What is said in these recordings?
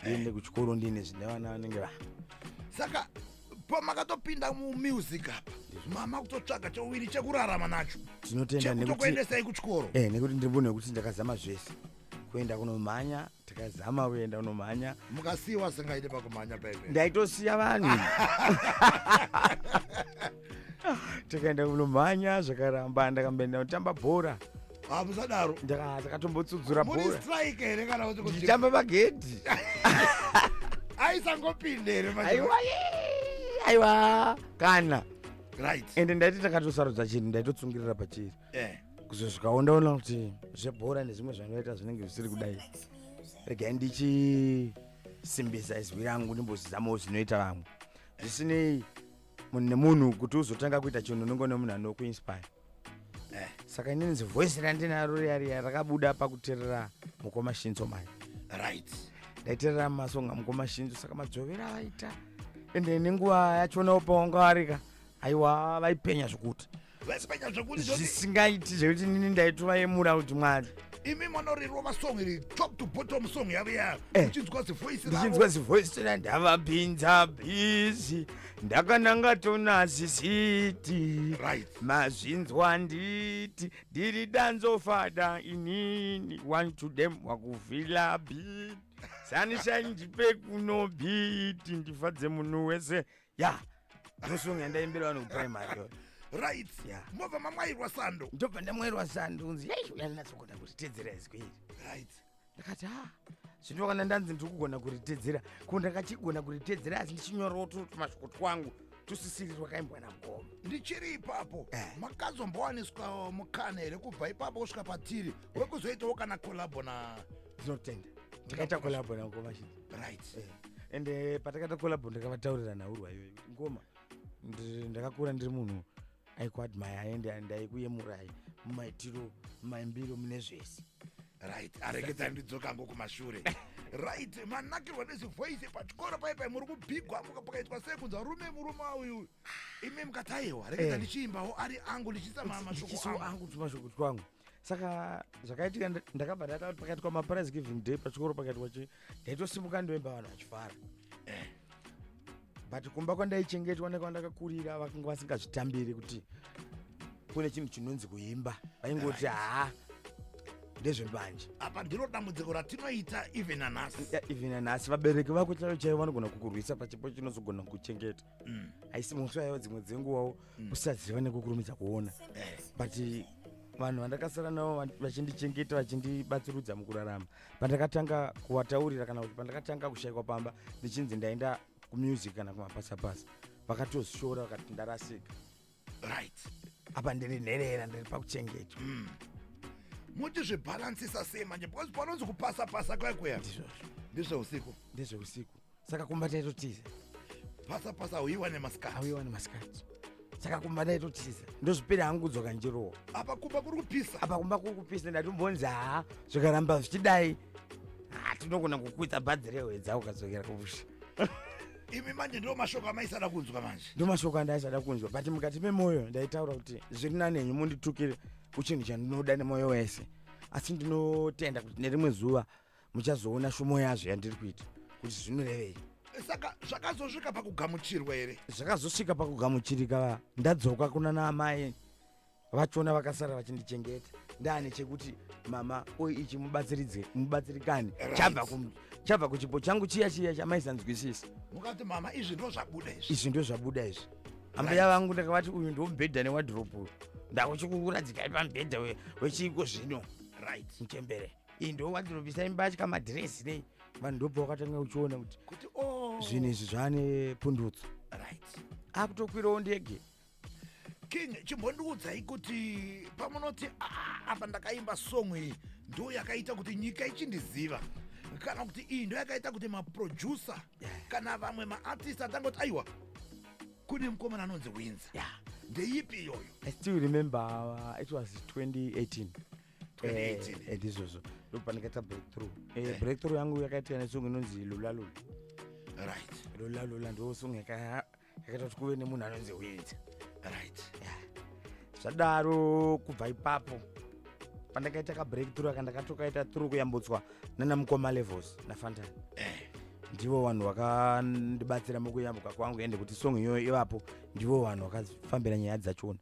ndiende kuchikoro ndiine zvine vana vanenge va saka pamakatopinda mumusic apa mama kutotsvaga chowiri chekurarama nacho tinotenda nekuti chekutokuendesai kuchikoro eh nekuti ndiri munhu wekuti ndakazama zvese kuenda kunomhanya takazama kuenda kunomhanya mukasiiwa singaite pakumhanya paive ndaitosiya vanhu tikaenda kunomhanya zvakaramba ndakamboenda kutamba bhora ah, musadaro ndakatombotsudzuraa ndichitamba magedhi aisangopinda here aiwa aiwa kana right ende ndaiti ndakatosarudza chinhu ndaitotsungirira pachiri eh. kuzo zvikaondaona kuti zvebhora nezvimwe zvanoita zvinenge zvisiri kudai regai ndichisimbisa izwi rangu ndimbozizamawo zvinoita vamwe zvisinei nemunhu kuti uzotanga kuita chinhu unenge une munhu anokuinspire eh. saka inini zivoice randinaro riya riya rakabuda pakuterera mukoma shinzo mani right ndaiterera masonga mukoma shinzo saka madzovera avaita ende nenguva yachonawo pawangavarika aiwa vaipenya zvekuti vasimanya zvekuti zvisingaiti zvekuti nini ndaitovayemura kuti mwari imi manorirova song iri top to bottom song yavo ya eh. uchinzwa zivoice ndichinzwa zivoice ra ndavapinza bizi ndakananga tonazisiti right mazvinzwa nditi ndiri danzofada inini one to them wakuvhila bit sanishai ndipe kunobiti ndifadze munhu wese ya ndosong yandaimbira vanhu kuprimary right yeah. mobva mamwairwa sando ndobva ndamwairwa sando unzi yai uyaninatsogona kuritedzera izwi iri right ndakati ha ah, zvino kana ndanzi ndiri kugona kuritedzera ko ndakachigona kuritedzera asi ndichinyorawo tumashoko twangu tusisiri twakaimbwa namkoma ndichiri ipapo eh. makazombowaniswa mukana here kubva ipapo kusvika patiri wekuzoitawo kana kolabo na ndinotenda ndakaita kolabo namkoma chii right eh. and uh, patakaita collabo ndakavataurira nhaurwa iyoyo ngoma ndakakura ndiri munhu aikuadmire aende ndaikuyemurai mumaitiro maimbiro mune zvese right areketa ndidzoka ngo kumashure right manakirwa nezivoice pachikoro paye paye muri kubigwa pakaitwa sei kunza rume murume auyu imi mukataiwa reketa eh. ndichiimbawo ari angu ndichiisa mashoko angu mashoko angu saka zvakaitika ndakabva ndata kuti pakati kwamaprize giving day pachikoro pakati kwachi ndaitosimuka ndoimba vanhu vachifara eh. but kumba kwandaichengetwa nekwandakakurira vakanga vasingazvitambiri kuti kune chinhu chinonzi kuimba vaingoti haa ndezvembanje apa ndiro dambudziko ratinoita even anhasi even anhasi vabereki vako chaivo chaivo vanogona kukurwisa pachipo chinozogona kuchengeta haisi mutsu yaiva dzimwe dzenguvawo kusaziva nekukurumidza kuona but vanhu vandakasara navo va- vachindichengeta vachindibatsirudza mukurarama pandakatanga kuvataurira kana kuti pandakatanga kushayikwa pamba ndichinzi ndaenda kumusic kana kumapasapasa vakatoshora vakati ndarasika right apa ndiri nherera ndiri pakuchengetwa mm. moti zvibhalansisa sei manje because panonzi kupasa pasa kwaikuya ndizvozvo ndezveusiku ndezveusiku saka kumba taitotiza pasa pasa hauiwa nemasikati hauiwa nemasikati saka kumba ndaitotiza ndozvipira hangu kudzoka ndichirowa apa kumba kuri kupisa apa kumba kuri kupisa ndatombonzi haa zvikaramba zvichidai tinogona kukuita bhadhi rehwedza ukadzokera kumusha imi manje ndo mashoko amaisada kunzwa manje ndo mashoko andaisada kunzwa but mukati memoyo ndaitaura kuti zviri nanenyu munditukire kuchinhu chandinoda nemoyo wese asi ndinotenda kuti nerimwe zuva muchazoona shumo yazvo yandiri kuita kuti zvinorevei saka zvakazosvika pakugamuchirwa here zvakazosvika pakugamuchirika ndadzoka kuna naamai vachona vakasara vachindichengeta ndaane chekuti mama oy ichi mubatsiridze mubatsirikani chabva kum- chabva kuchipo changu chiya chiya chamaisanzwisisa mukati mama izvi ndo zvabuda izvi izvi ndo zvabuda izvi ambuya vangu ndakavati uyu ndo mubhedha newadrop uyu ndakuchikuradzikai pamubhedha we- wechiiko zvino right mchembere iyi ndo wadrop isai mbatya madhiresi nei vanhu ndobva wakatanga uchiona kuti kuti o zvinhu izvi zvaane pundutso right akutokwirawo ndege king chimbondiudzai kuti pamunoti "Ah, apa ndakaimba song iyi ndo yakaita kuti nyika ichindiziva kana kuti iyi ndo yakaita kuti maproducer kana vamwe maartist atangoti aiwa kune mukomana anonzi winza Yeah. ndeipi iyoyo I still remember uh, it was 2018. 2018. Eh, and izvozvo ndopandikaita breakthrough Eh, Eh. breakthrough yangu yakaitika nesong inonzi lula lula right lula lula ndo song yaka yakaita kuti kuve nemunhu anonzi hwidza right yeah. zvadaro kubva ipapo pandakaita kabreak through aka ndakatokaita through kuyambutswa nana mukoma levels nafantani eh. ndivo vanhu vakandibatsira mukuyambuka kwangu ende kuti song iyoyo ivapo ndivo vanhu vakafambira nyaya dzachona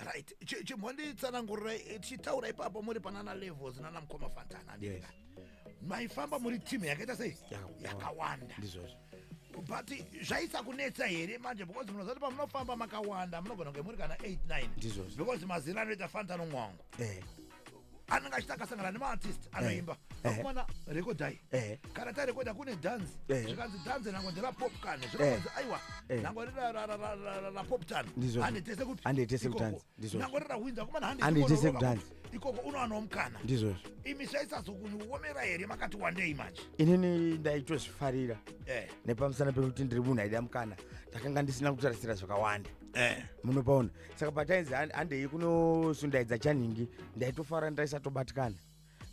right chimhonditsanangurira eh, tichitaura ipapo muri panana levels nana mukoma fantana yes. maifamba muri team yakaita sei yakawanda ndizvozvo but zvaisa kunetsa here manje because munozati pamunofamba makawanda munogona kunge muri kana 89 ndizvozvo because mazira anoita fantano mwangu eh. anenge achiti akasangana nemaartist eh, anoimba eh. akumana rekodai eh. kana tarekoda kune dhanzi zvikanzi dhanzi nango nderapopkan zvikaanzi aiwa nango rirapoptan handitese kupi handitese kutanzi nango rirahwinza akumana handitese kutanzi ikoko unowana mukana ndizvozvo imi zvaisazokuomera here makati wandei manje inini ndaitozvifarira eh. nepamusana pekuti ndiri munhu aida mukana ndakanga ndisina kutarisira zvakawanda eh. munopaona saka patainzi handei kunosundaidza chanhingi ndaitofara ndaisatobatikana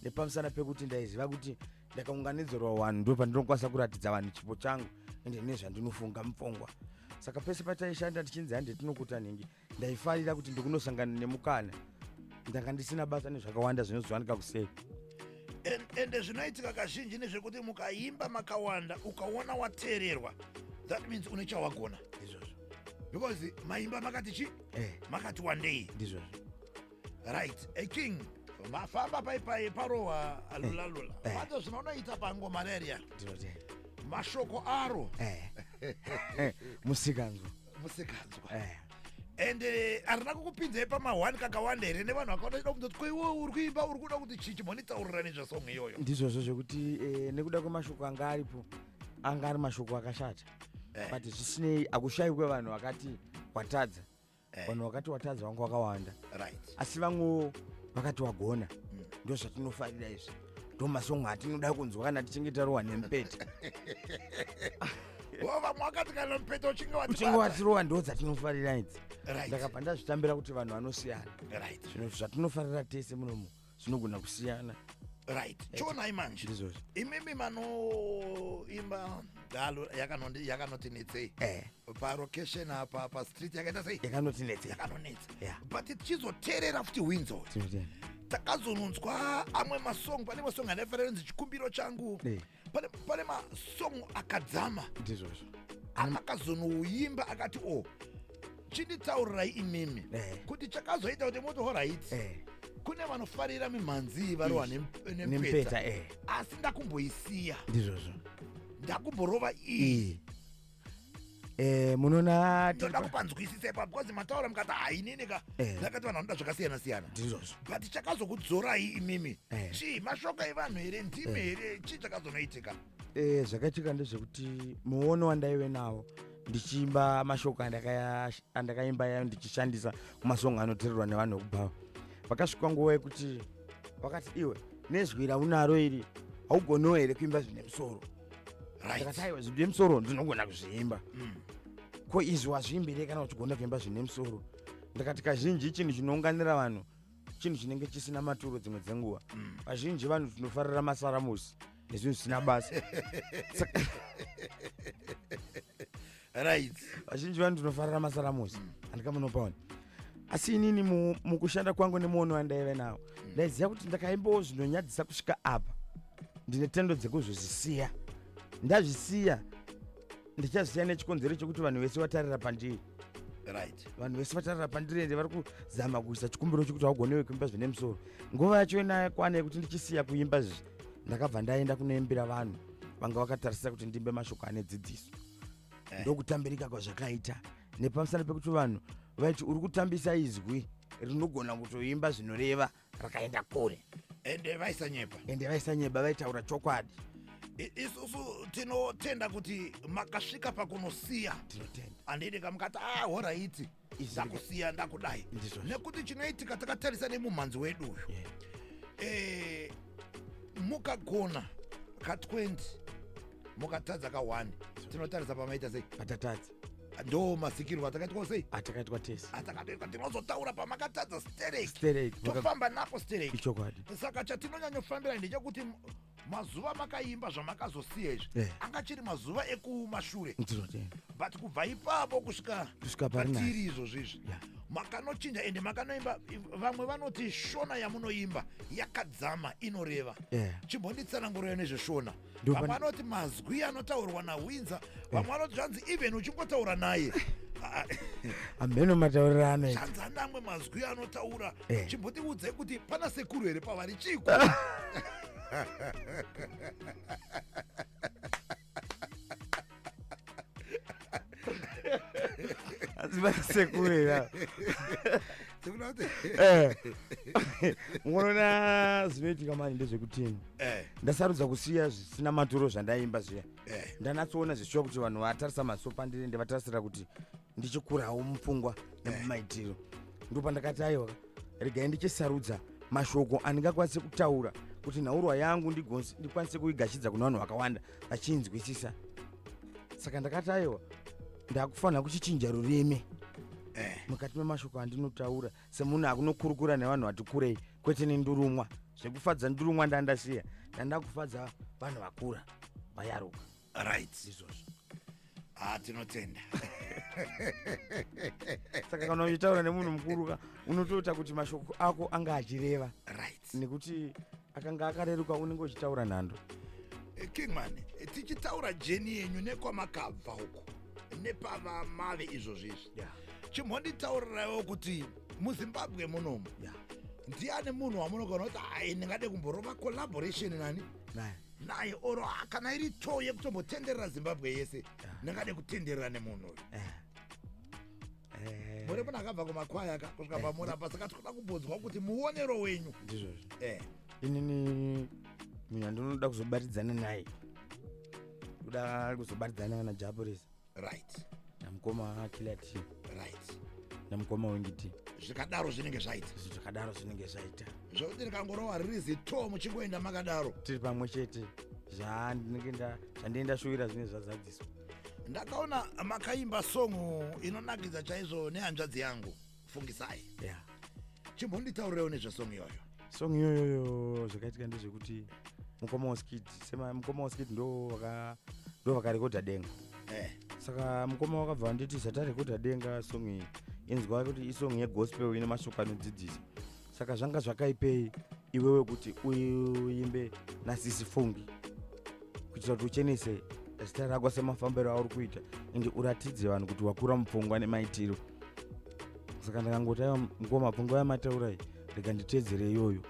nepamusana pekuti ndaiziva kuti ndakaunganidzirwa vanhu ndo pandinokwanisa kuratidza vanhu chipo changu ende nezvandinofunga mupfungwa saka pese pataishanda tichinzi hande tinokuta nhingi ndaifarira kuti ndikunosangana nemukana ndanga ndisina basa nezvakawanda zvinozowanika kusei ende zvinoitika kazhinji nezvekuti mukaimba makawanda ukaona wateererwa that means une chawagona izvozvo because maimba makati chi eh. makati wandei ndizvozvo right a king mafamba paipai parohwa alulalula eh. eh. pato zvinonoita pango malaria mashoko aro eh. musikanzwa musikanzwa and arina kukupinzai pamahwani kakawanda here nevanhu vakaona chida kunzoti ko iwe uri kuimba uri kuda kuti chii chimonitaurira nezvesong iyoyo ndizvozvo zvekuti nekuda kwemashoko anga aripo anga ari mashoko akashata eh. but zvisinei akushayi kwevanhu vakati watadza eh. vanhu vakati watadza vanga wakawanda right. asi vamwewo vakati wagona mm. ndo zvatinofarira izvi ndo masongo atinoda kunzwa kana tichinge tarowa nemupete uchinge watirowa ndo dzatinofarira idzi ndakabva ndazvitambira kuti vanhu vanosiyana zvatinofarira tese munomu zvinogona kusiyana right eh, chionai manje imimi manoimba galo yakanoti netsei eh. parocation apa pastreet yakaita sei yakanoti netsei yakanonetsa but tichizoteerera futi winzo takazononzwa amwe masong pane masong anaifanira kunzi chikumbiro changu eh. pane pane masong akadzama ndizvozvo akakazonouyimba akati o oh, chinditaurirai imimi eh. kuti chakazoita kuti moti horaiti eh. kune vanofarira mimhanzi varohwa nempeta eh. asi ndakumboisiya ndizvozvo ndakumborova iyi Eh, munona ndoda kupanzwisisa ipa because mataura mukati hainini ka eh. zakati vanhu vanoda zvakasiyana siyana ndizvozvo but chakazokudzorai imimi eh. chii mashoko evanhu here ndimi here chii chakazonoitika zvakaitika ndezvekuti muono wandaive nawo ndichiimba mashoko andakaimba yayo ndichishandisa kumasongo anotererwa nevanhu vekubhawa vakasvika nguva yekuti vakati iwe nezwi raunaro iri haugonewo here kuimba zvine musoro ndakataiwa zvine musoro ndinogona kuzviimba mm. ko izvi wazviimbirei kana uchigona kuimba zvine musoro ndakati kazhinji chinhu chinounganira vanhu chinhu chinenge chisina maturo dzimwe dzenguva mm. vazhinji vanhu tinofarira masaramusi nezvinhu zvisina basa right vazhinji vanu tinofarira masaramusi handikamunopaona asi inini mukushanda kwangu nemuono wandaive nawo mm. ndaiziva kuti ndakaimbawo zvinonyadzisa kusvika apa ndine tendo dzekuzozvisiya ndazvisiya ndichazisiya nechikonzero chekuti vanhu vese vatarira pandiri right vanhu vese vatarira pandiri ende vari kuzama kuisa chikumbiro chekuti haugonewe kuimba zvine musoro nguva yacho inayo kwana yekuti ndichisiya kuimba zvi ndakabva ndaenda kunoimbira vanhu vanga vakatarisira kuti ndimbe mashoko ane dzidziso eh. ndokutambirika kwazvakaita nepamusana pekuti vanhu vaiti uri kutambisa izwi rinogona kutoimba zvinoreva rakaenda kure ende vaisanyepa ende vaisanyepa vaitaura chokwadi isusu tinotenda kuti makasvika pakunosiya tinotenda andidi kamukati ah horaiti ah, ndakusiya ndakudai nekuti chinoitika takatarisa nemumhanzi wedu uyu yeah. e, mukagona ka 20 mukatadza ka 1 tinotarisa pamaita sei patatadza ndo masikirwo atakaitwa sei atakaitwa tese atakatoitwa tinozotaura pamakatadza stereki tofamba nako stereki ichokwadi saka chatinonyanyofambira ndechekuti mazuva makaimba zvamakazosiya izvi Eh. anga chiri mazuva ekumashure ndinotenda but kubva ipapo kusvika Kusvika pari nani? patiri izvozvi izvi Yeah. makanochinja ende makanoimba vamwe vanoti shona yamunoimba yakadzama inoreva Yeah. chimbonditsanangurira nezveshona Ndo vamwe pane- vanoti mazwi anotaurwa nawinza vamwe vanoti zvanzi even uchingotaura naye Ah, hameno mataurirano ita zvanzi ane amwe mazwi anotaura Eh. chimbotiudzai kuti pana sekuru here pavari chiko asi vanasekurera Sekuru vati, Eh. munoona zvinoitika mani ndezvekutini eh, ndasarudza kusiya zvisina maturo zvandaimba zviya eh, ndanatsoona zvichiwa kuti vanhu vatarisa maso pandiri ndivatarisira kuti ndichikurawo mupfungwa nemumaitiro ndipo pandakati aiwa regai ndichisarudza mashoko andingakwanise kutaura kuti nhaurwa yangu ndikwanise kuigashidza kune vanhu vakawanda vachinzwisisa saka ndakati aiwa ndakufanira kuchichinja rurimi eh. mukati memashoko andinotaura semunhu akunokurukura nevanhu vati kurei kwete nendurumwa zvekufadza ndurumwa ndandasiya ndandakufadza vanhu vakura vayaruka right izvozvo ah tinotenda saka kana uchitaura nemunhu mukuru ka unotoita kuti mashoko ako anga achireva right nekuti akanga akareruka unenge uchitaura nhando Eh, kingman eh, tichitaura jeni yenyu nekwamakabva uku nepava mave izvozvo izvi Yeah. chimhonditaurirawo kuti muzimbabwe munomu Yeah. ndiani munhu wamunogona kuti ai ndingade kumborova collaboration nani naye naye oro kana iri choo yekutombotenderera zimbabwe yese ndingade kutenderera nemunhu uyu Eh. muri munhu akabva kumakwaya ka kusvika eh. pamurapa saka tikuda kubvunzwa kuti muonero wenyu ndizvozvo eh. inini munhu andinoda kuzobatidzana naye kuda kuzobatidzana kana japurisa right namukoma akilati right namukoma wengiti zvikadaro zvinenge zvaita izvi zvakadaro zvinenge zvaita zvokuti ndikangorova riri zito muchingoenda makadaro tiri pamwe chete zvandinenge nda- zvandinenge ndashuvira zvinenge zvazadziswa ndakaona makaimba song inonakidza chaizvo nehanzvadzi yangu fungisai yeah. chimbonditaurirewo nezvesong iyoyo song iyoyoyo zvakaitika ndezvekuti mukoma waskid sema mukoma waskid ndo vaka ndo vakarekodha denga eh. saka mukoma wakabva vanditi zvatarekodha denga song iyi inzwa kuti isong yegospel ine mashoko anodzidzisa saka zvanga zvakaipei iwewe kuti uimbe nasisi fungi kuitira kuti uchenese zita rako semafambiro auri kuita ende uratidze vanhu kuti wakura mupfungwa nemaitiro saka ndakangoti aiwa mukoma mapfungwa yamataurai rega nditedzere iyoyo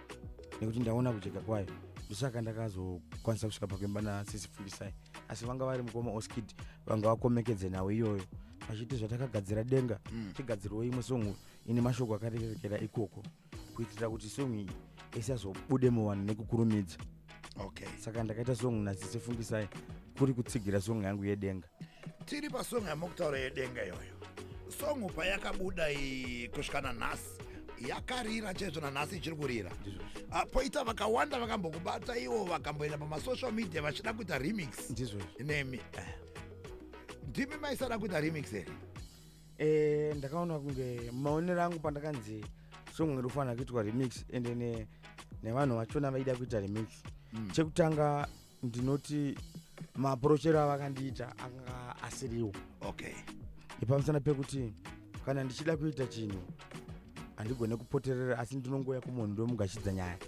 nekuti ndaona kujeka kwayo ndosaka ndakazokwanisa kusvika pakuimba nasisi fungisai asi vanga vari mukoma oskid vanga vakomekedze nhau iyoyo vachiti zvatakagadzira denga mm. chigadzirwo imwe songu ine mashoko akarerekera ikoko kuitira kuti song iyi isazobude muvanhu nekukurumidza okay saka ndakaita song nazise fungisai kuri kutsigira song yangu yedenga tiri pasong yamokutaura yedenga iyoyo song payakabuda iyi kusvika nanhasi yakarira chaizvo nanhasi ichiri kurira Ah, poita vakawanda vakambokubata ivo vakamboenda pamasocial media vachida kuita remix ndizvozvo nemi ndimi maisada kuita remix here eh, ndakaona kunge maonero angu pandakanzi song iri kufanira kuitwa remix ende ne, nevanhu vachona vaida kuita remix mm. chekutanga ndinoti maapurochero avakandiita anga asiriwo okay ipamusana pekuti kana ndichida kuita chinhu handigone kupoterera asi ndinongouya kumunhu ndomugashidza nyaya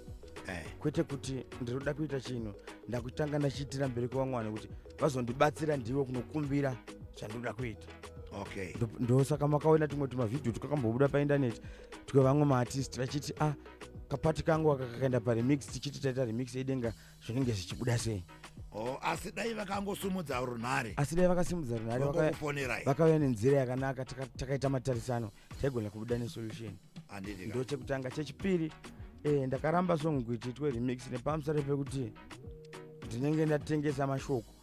eh. kwete kuti ndinoda kuita chinhu ndakutanga ndachiitira mberi kwevamwe vanhu kuti vazondibatsira ndivo kunokumbira zvandinoda kuita okay ndosaka makaona tumwe tumavhidhiyo twakambobuda paindaneti twevamwe maartist vachiti ah kapati kangu aka kakaenda paremix tichiti taita remix edenga zvinenge zvichibuda sei Oh, asi dai vakangosumudza runhare asi dai vakasimudza runhare vakauya nenzira yakanaka takaita matarisano taigona kubuda nesolution ndo chekutanga chechipiri eh, ndakaramba song kuitiitwe remix nepamusare pekuti ndinenge ndatengesa mashoko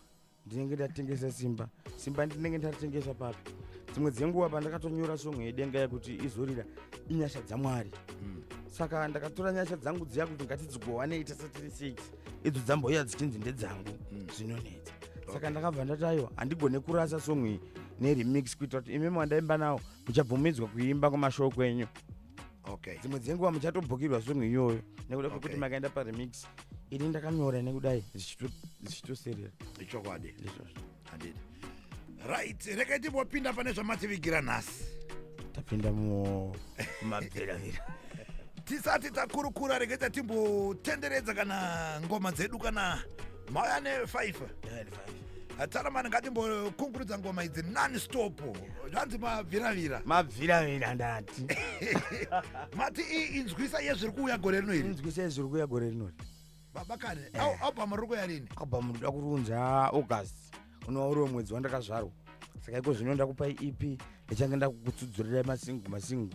ndinenge ndatengesa simba simba ndinenge ndatengesa papi dzimwe dzenguva pandakatonyora songo yedenga yekuti izorira inyasha dzamwari mm. saka ndakatora nyasha dzangu dziya kuti ngatidzigowanei tese tiri six idzo dzambouya dzichinzi ndedzangu mm. zvinonetsa saka ndakabva ndati aiwa handigone kurasa songo iyi neremix kuitira kuti imi mwandaimba nawo muchabvumidzwa kuimba kumashow kwenyu okay dzimwe dzenguva muchatobhukirwa song iyoyo nekuda kwekuti okay. makaenda paremix ini ndakanyora nekudai zvichitoserera ichokwadi izvozvo handidi right rekai timbopinda pane zvamativigira nhasi tapinda mumabviravira tisati takurukura regai tatimbotenderedza kana ngoma dzedu kana mauya nefifa Tsaramani ngatimbokunkurudza ngoma idzi non stop zvanzi mabviravira mabviravira ndati mati iyi inzwisa yezviri kuuya gore rino iri inzwisa yezviri kuuya gore rino baba kane eh. album riri kuya rini album ndoda kurunza august unova uriwo mwedzi wandakazvarwa saka iko zvino ndakupai ep ndichange ndakukutsudzurirai masingu masingu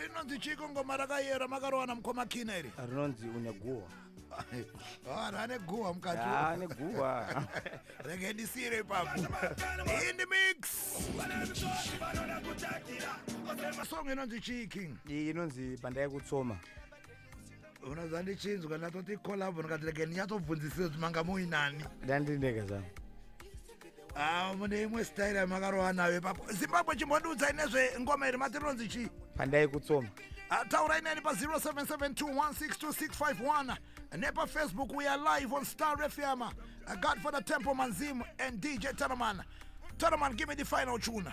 rinonzi chiko ngoma rakayera makarowana mukoma kina iri rinonzi une guhwa vanhu ane guhwa mukati ane guhwa rege ndisiire ipapo indi mix song inonzi chii king iyi inonzi pandai kutsoma unoziva ndichinzwa ndatoti collabo ndikati rege ndinyatsobvunzisire kuti manga muinani ndandindega zvangu Ah, mune imwe style yamakarova nayo ipapo zimbabwe chimbondiudzai nezvengoma iri mati rinonzi chii pandai kutsoma Ah, taurai neni pa 0772162651 nepafacebook we are live on star fm uh, godfather temple manzim and dj tanaman tanaman give me the final tuna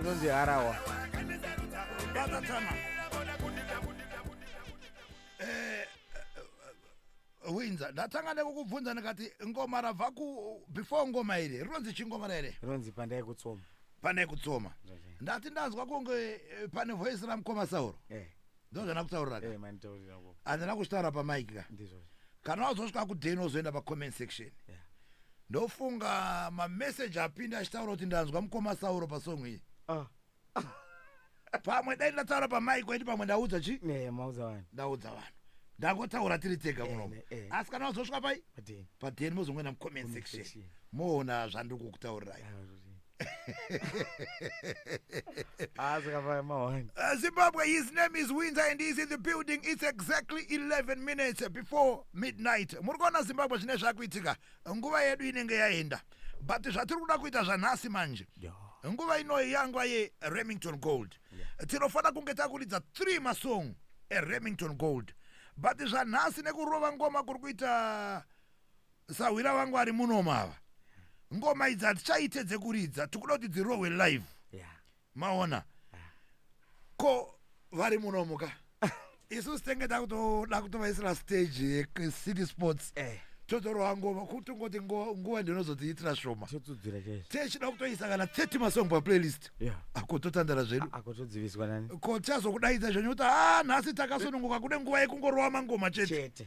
inonzi harawa eh, eh, winza ndatanga nekukubvunza ndikati ngoma rabva ku before ngoma iri rinonzi chingoma here rinonzi pandai kutsoma pandai kutsoma ndati ndanzwa kunge eh, pane voice ramukoma sauro yeah. ndozvana kutaurira ka handina kuzvitaura pamike ka kana wazosvika kudeni wozoenda pacomment section ndofunga mameseji apinda achitaura kuti ndanzwa mukoma sauro pasong iyi ah. pamwe dai ndataura pamike waiti pamwe ndaudza chi ndaudza vanhu ndangotaura tiri tega munomo asi kana wazosvika pai padeni mozongoenda mucomment section moona zvandiri kukutaurirai Uh, Zimbabwe, his name is Winter and he's in the building. It's exactly 11 minutes before midnight. Muri kuona Zimbabwe zvine zvakuitika. Nguva yedu inenge yaenda. But zvatiri kuda kuita zvanhasi manje. Nguva inoyi yangwa ye Remington Gold. Tinofanira kunge takuridza 3 masong e Remington Gold. But zvanhasi nekurova ngoma kuri kuita Sahwira vangu ari muno mava. Ngoma idzi hatichaite dzekuridza tikuda kuti dzirohwe live. Yeah. Maona. Yeah. Ko vari muno muka. Isu sitenge takutoda kutovaisira stage yecity sports. Eh. Hey totorowa ngoma kutongoti nguva ndinozodziitira shoma techida kutoisa kana 30 masong paplaylist ako totandara zvedu ko tichazokudaidza zvenyu kuti ha ah, nhasi takasununguka kude nguva yekungorova mangoma chete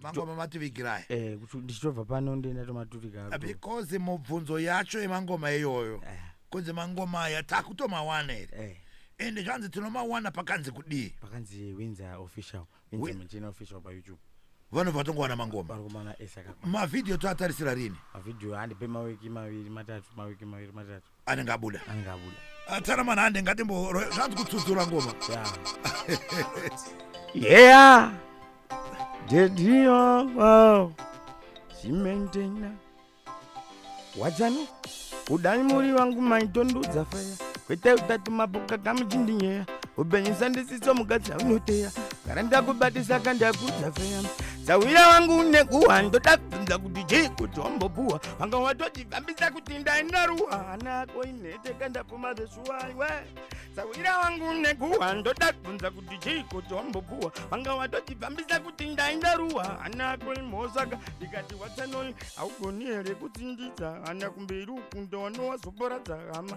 mangoma mativigirai eh, kuti ndichitobva pano ndienda tomaturika Ah, because mubvunzo yacho yemangoma iyoyo Eh, kunzi mangoma aya takutomawana here eh, ende zvanzi tinomawana pakanzi kudii pakanzi winza official Wi- winza machina official payoutube vanobva vatongowana mangoma vari kumana esaka mavhidhiyo toatarisira rini mavhidhiyo andipe mawiki maviri matatu mawiki maviri matatu anenge abuda anenge abuda atara manhande ngatimboro zvanzi kutsudzura ngoma yeah dedio wow zimentena wadzano kudai muri vangu maitondudza feya kwete utatu mapoka kamuchindinyeya upenyu sandisiso mukadzi aunoteya kana ndakubatisa kandakudza feya sauya wangu nekuwa ndoda kubvunza kuti chii kuti wambopuwa vanga watoti Ndambidza kuti ndaenda ruhana koinhete kandapuma zveshuwaiwe sawira wangu neguwa ndoda kubvunza kuti chiiko chombopuwa vanga watotibvambisa kuti ndainda ruwa hana koimhosaka ndikati watsanoi haugoni here kutsindidza hana kumberi uku ndowanowazoporadza hama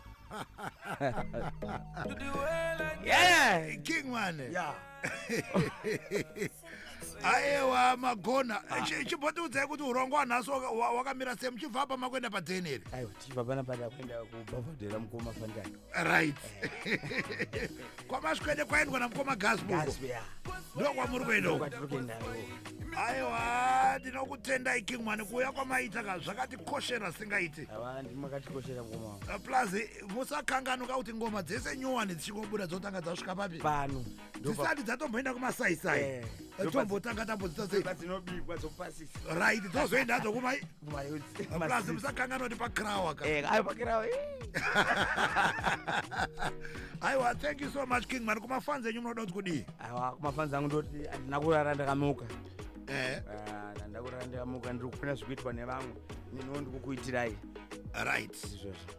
yeah, king mane yeah. aewa magona ah. chimbotiudzai kuti urongo wanhasi wakamira sei muchibva apa makuenda padeni iri aiwa tichibva pana pana kuenda kubhavhadhera mukoma fandai right eh. kwamaswede kwaendwa namukoma gasboko ndo kwamuri kuenda uko aiwa ndinokutendai king mani kuuya kwamaita ka zvakatikoshera singaiti eh, plus musakanganuka kuti ngoma dzese nyowani dzichingobuda dzotanga dzasvika papi pano dzisati dzatomboenda kumasaisai eh, eh, tombotanga tambodzita sei right dzozoenda dzokumai plus musakanganwa kuti pakirawa ka Eh, ayo pakirawa eh. aiwa thank you so much king mani kumafans enyu munoda kuti kudii awa kumafans angu ndoti handina kurara ndakamuka eh, Ah, handina kurara ndakamuka ndiri kufuna zvikuitwa nevamwe niniwo ndikukuitirai right izvozvo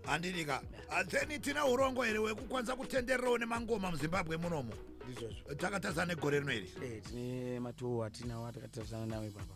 handidi ka Ah, then tina urongo here wekukwanisa kutendererawo nemangoma muzimbabwe munomo ndizvozvo takatazana negore rino iri Eh, tine matowo atinawo atakatarisana nawo ipapa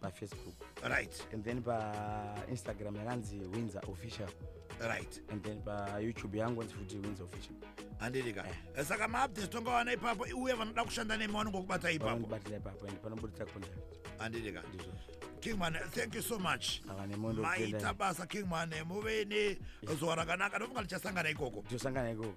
pafacebook right and then painstagram yakanzi winzer official right and then payoutube yangu anzi futi winzer official handirika eh. eh, saka maupdates tongawana ipapo uye vanoda kushanda nemi vanongokubata ipapobatira ipapo and panoburitsa contact handirika kingman thank you so much maita basa kingman muve nezuva rakanaka ndofunga tichasangana ikoko tichasangana ikoko